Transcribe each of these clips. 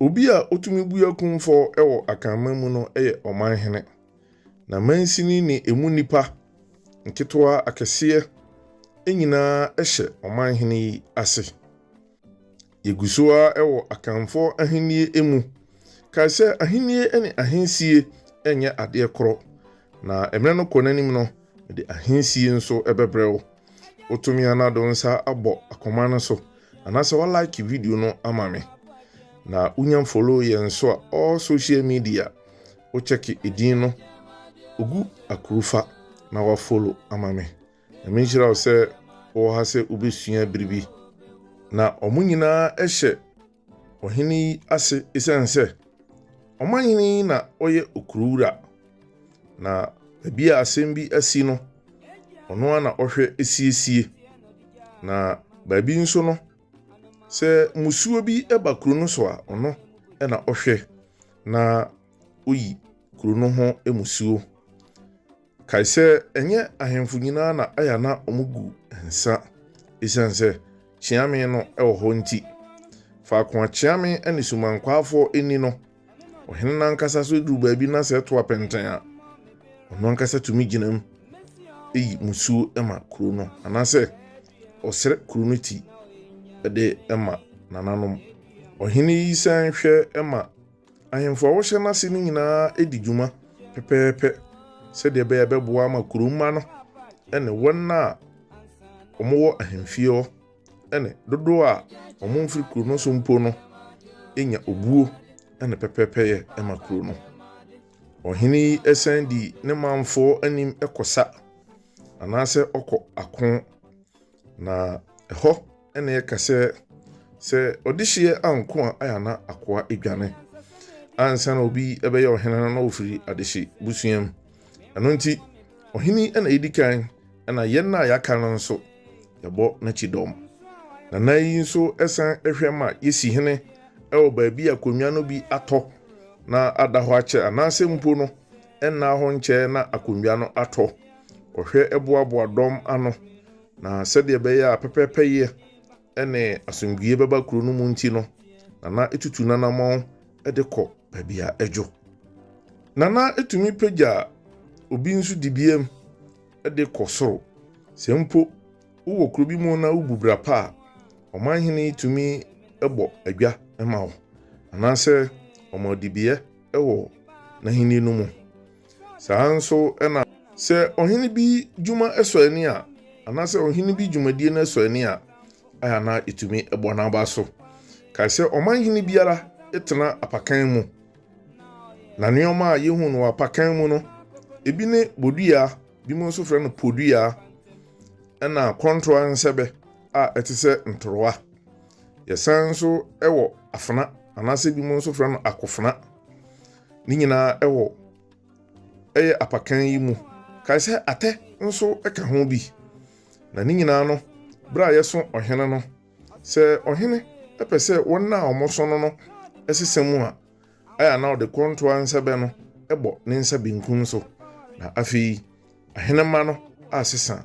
Obi a otumi bue kumfɔ wɔ Akanman mu no yɛ Ɔmanhene, na mansini ne emu nnipa, nketewa, akɛseɛ, nyinaa hyɛ Ɔmanhene yi ase. Yɛgu so ara wɔ Akanfoɔ ahennie mu. Kae sɛ ahennie ne ahensie nyɛ adeɛ korɔ, na mmerɛ no kɔ n'anim no, mede ahensie nso bɛbrɛ wo. wotumi ana do nsa abɔ akoma no so anaasɛ wa like video no ama me na wonya follow yɛn nso a all social media wo check edin no ogu akurufa na wa follow ama me na me nhyira wo sɛ wɔ ha sɛ wobɛsua biribi na wɔn nyinaa hyɛ ɔhene yi ase esiane sɛ ɔmanhene yi na ɔyɛ okuruwura, na baabi a asɛm bi asi no, ɔno ara na ɔhwɛ siesie. Na baabi nso no, sɛ mmusuo bi ba kuro no so a, ɔno na ɔhwɛ na oyi kuro no ho mmusuo. Kae sɛ, ɛnyɛ ahemfo nyinaa na ɛyɛ a na wɔgu nsa esiane sɛ kyeame no wɔ hɔ nti. Faako a kyeame ne sumankwafoɔ nni no, ɔhene no ankasa so duru baabi na sɛ ɛto apɛntɛn a, ɔno ankasa tumi gyinam yi musuo ma kuro no anaasɛ ɔsrɛ kuro no ti de ma nananom. Ɔhene yi san hwɛ ma Ahemfo a wɔhyɛ n'ase no nyinaa di dwuma pɛpɛɛpɛ sɛdeɛ ɛbɛyɛ a ɛbɛboa ama kuro mma no ne wɔn a wɔwɔ ahemfie hɔ ne dodoɔ a wɔmfiri kuro no so mpo no nya obuo ne pɛpɛɛpɛyɛ ma kuro no. Ɔhene yi san di ne manfoɔ anim kɔsa anaasɛ ɔkɔ ako Na ɛhɔ na yɛka sɛ sɛ ɔdehyeɛ anko a ayɛ na akoa adwane ansa na obi bɛyɛ ɔhene no na ɔfiri adehye busua mu ɛno nti ɔhene na ɛdi kan na yɛn na yɛaka no nso yɛbɔ n'akyi dɔm na na yi nso ɛsan ɛhwɛ ma yɛsi hene ɛwɔ baabi a konwa no bi atɔ na ada hɔ akyɛ anaasɛ mpo no Ɛnnaa hɔ nkyɛe na akonnwa no atɔ. Ɔhwɛ boaboa dɔm ano, na sɛdeɛ ɛbɛyɛ a pɛpɛɛpɛyɛ ne asomdwoeɛ bɛba kuro no mu nti no, Nana tutu n'anammɔn de kɔ baabi a ɛdwo. Nana tumi pagya obi nso di biam de kɔ soro. Sɛ mpo wowɔ kuro bi mu na wobu bra pa a, ɔmanhene yi tumi bɔ adwa ma wo, anaasɛ ɔma ɔdibeɛ. wɔ n'ahenni no mu. Saa ara nso na. Sɛ ɔhene bi dwuma sɔ ani a, anaasɛ ɔhene bi dwumadie no sɔ ani a, a na ɛtumi bɔ n'aba so. Kae sɛ ɔmanhene biara tena apakan mu, na nneɛma a yɛhu no wɔ apakan mu no, ebi ne bodua, binom nso frɛ no podua, ɛna kɔntoa nsɛbɛ a ɛte sɛ ntorowa, Yɛsan nso wɔ afena anaasɛ ebinom nso frɛ no akofena. Ne nyinaa wɔ ɛyɛ apakan yi mu. Kae sɛ atɛ nso ka ho bi. Na ne nyinaa no, bere a yɛso ɔhene no, sɛ ɔhene pɛ sɛ wɔn a wɔso no no sesa mu a, ɛyɛ a na ɔde kɔntoa nsɛbɛ no bɔ ne nsa benkum so. Na afei ahenemma no asesa.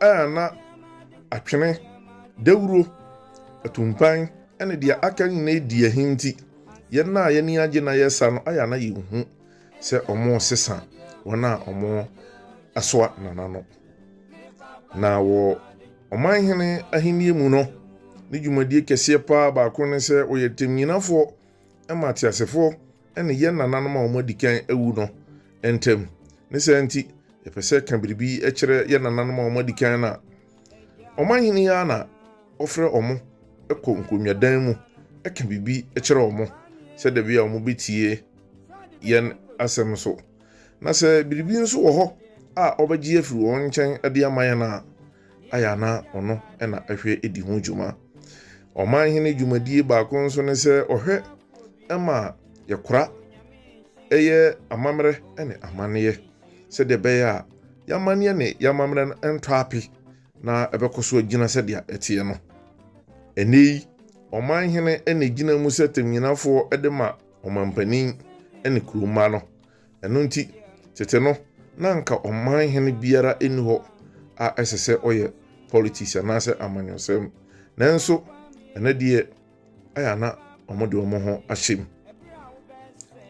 a na atwene, dawuro, atumpan, ne deɛ aka nyinaa di ahi nti, yɛn a yɛn ani agye na yɛresa no ayɛ a na yɛhu sɛ wɔresesa wɔn a wɔasoa nana no. Na wɔ ɔmanhene ahennie mu no, ne dwumadie kɛseɛ paa baako ne sɛ ɔyɛ tɛmnyinafoɔ ma ateasefoɔ ne yɛn nananom a wɔadi kan awu no ntam. Ne saa nti, yɛpɛ sɛ yɛka biribi kyerɛ yɛn nananom a wɔadi kan no a, ɔmanhene yi ara na ɔfrɛ wɔn kɔ nkonnwadan mu ka biribi kyerɛ wɔn sɛ da bi a wɔbɛtie yɛn asɛm so. Na sɛ biribi nso wɔ hɔ a ɔbɛgye afiri wɔn nkyɛn de ama yɛn a, ayɛ ana ɔno na ɛhwɛ di ho dwuma. Ɔmanhene dwumadie baako nso ne sɛ ɔhwɛ ma yɛkora yɛ amammerɛ ne amanneɛ sɛdeɛ ɛbɛyɛ a yɛamanneɛ ne yɛamammerɛ no ntɔ ape na ɛbɛkɔ so agyina sɛdeɛ ɛteɛ no. Ɛnɛ yi, ɔman hene na ɛgyina mu sɛ tɛmnyinafoɔ de ma ɔmampanin ne kuromma no. Ɛno nti, tete no, na anka ɔman hene biara nni hɔ a ɛsɛ sɛ ɔyɛ politics anaasɛ amanyɔsɛm. Nanso, ɛnɛ deɛ, ayɛ a na wɔde wɔn ho ahyɛ mu.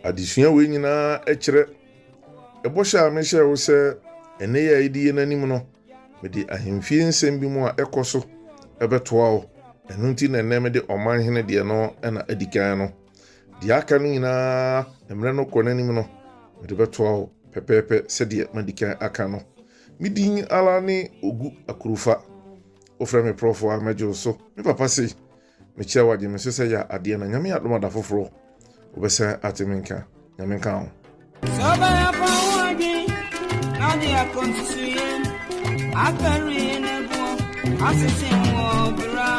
Adesua wei nyinaa kyerɛ ɛbɔhyɛ a mehyɛɛ wo sɛ ɛnɛ yi a yɛde yɛn anim no, mede ahemfie nsɛm bi mu a ɛkɔ so ɛbɛtoa wo. Ɛno nti na ɛnɛ mede ɔman hene deɛ no na adi kan no. Deɛ aka no nyinaa, mmerɛ no kɔ n'anim no, mede bɛtoa wo pɛpɛɛpɛ sɛdeɛ madi kan aka no. Me din ara ne Ogu Akurufa. Wofrɛ me prɔfo a, mɛgye wo so. Me papa sei, mekyia wo agye me so sɛ yɛ adeɛ na Nyame adom ada foforɔ wobɛsan ate me nka. Nyame nka ho. Sɛ ɔbɛyɛ fa ho adwen na ɔde akɔ nsusuiɛ afɛre na ɛboɔ asese wɔ bra.